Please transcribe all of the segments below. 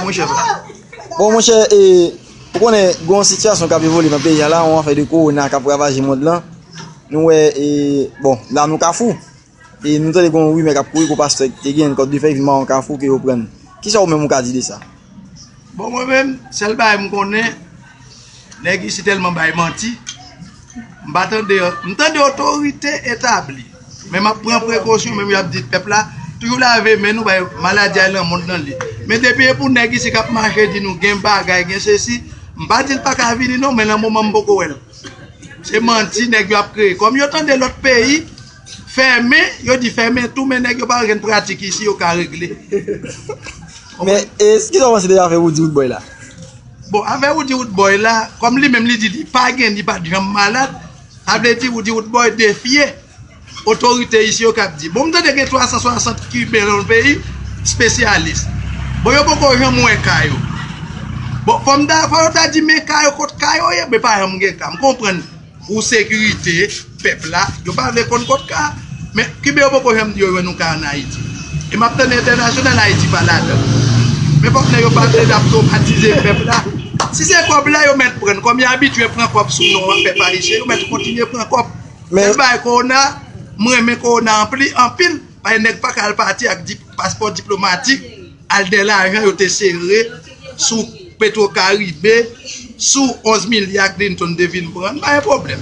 Monchè pa. Bon monchè e ou konnen gon sitiyasyon kap evole nan peyi a la on afè de korona kap ravaje mond lan nou wè e bon la nou kafou e nou tande gon rimè kap kouri kou pastè ki te genyen kòt de fèy vin mawon kafou ke yo prann kisa ou menm ou ka di de sa? Bon mwen menm sèl bagay m konnen nèg isi tèlman bay manti. M pa tande an. M tande otorite etabli. Men m ap pran prekosyon men m y ap di pèp la toujou lave men nou bay maladi a lan mond lan li. Men depi e pou nèg isi k ap mache di nou gen bagay gen se si m pa di l pa ka vini non men lan moman m poko wè l. Se manti nèg yo ap kreye. Kòm yo tande lòt peyi. Fèmen, yo di fèmen tou men nèg yo pa gen pratik isi yo ka regle. Men, e, kisa ou panse de afè Roody Roodboy la? Bon, afè Roody Roodboy la, kòm li menm li di li pa gen, li pa t janm malad, sa vle di Roody Roodboy defye otorite isi yo k ap di. Bon, m tande gen 360 Kiben lan l peyi, spesyalis. Bon, yo poko janm wè ka yo. Bon, fò m ta, fò yo ta di men ka yo kot ka yo ye, men pa janm gen ka. M konprann. Pou sekirite pèp la, yo pa vle konn kot ka a. Men, kiben yo poko janm di yo jwenn yon ka an Ayiti. E m ap tande entènasyonal, Ayiti pa ladan. Men fòk nèg yo pa vle ap twomatize pèp la. Si se kòb la yo mèt pran, kòm yo abitye pran kòb sou non an pèp ayisyen, yo mèt kontinye pran kòb. Jan l bay kowona a, m renmen kowona anpil, paske nèg pa ka al pati ak paspò diplomatik. Al dè lajan yo te sere sou petro karibe sou 11 milya Clinton te vin pran n pa gen pwoblèm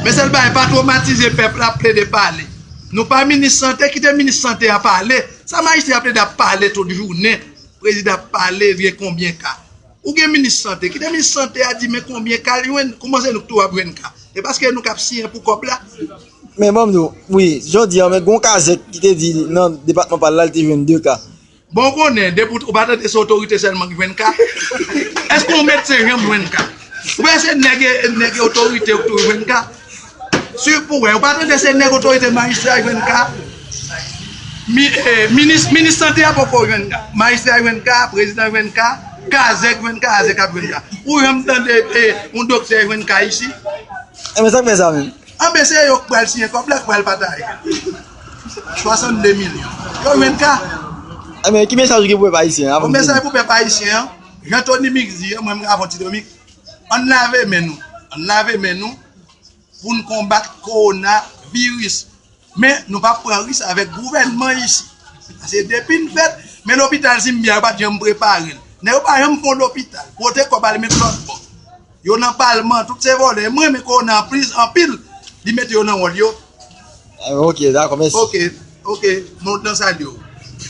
men sèl bagay pa twomatize pèp la plede pale nou pa minis sante kite minis sante a pale sa majistra ap plede ap pale tout jounen prezidan ap pale gen konbyen ka Ou gen minis sante, kite minis sante a di men konbyen ka li jwenn, kouman se nou ki tou ap jwenn ka? E paske nou kap siyen pou kòb la? Men banm di w, wi, jodi an men gon kazèk ki te di nan depatman pa l la li te jwenn 2 ka. Bon ou konnen, depi ou pa tande se otorite sèlman ki jwenn ka? Eske yon medsen janm jwenn ka? Oubyen se nèg e otorite yo ki toujou jwenn ka? Swiv pou wè. Ou pa tande se nèg otorite majistra yo jwenn ka? Minis sante a poko jwenn ka. Majistra yo jwenn ka, prezidan yo jwenn ka, kazèk jwenn ka, azèk ap jwenn ka. Ou janm tande yon doktè jwenn ka isi? Anben sak fè sa menm? Anben se yo k pral siyen kòb la, k pral pataje. 62 milyon. Yo jwenn ka? Anben ki mesaj ou gen pou pèp ayisyen an? Bon mesaj pou pèp ayisyen an, jan Tony Mix di an, mwen m ka fè yon ti Tony Mix. Ann lave men nou, ann lave men nou pou n konbat kowona viris. Men nou pa pran risk avèk gouvènman isi. Pase depi n fèt, men lopital Zimbia yo pa t janm prepare l. Nèg yo pa janm fon lopital. Pote kòb al met lòt bò. Yo nan palman, tout se vòlè. M renmen kowona an plis anpil. Li mete yo nan wòl yo. Ok, dakò, mèsi. Ok, ok, mwen kontan salye w.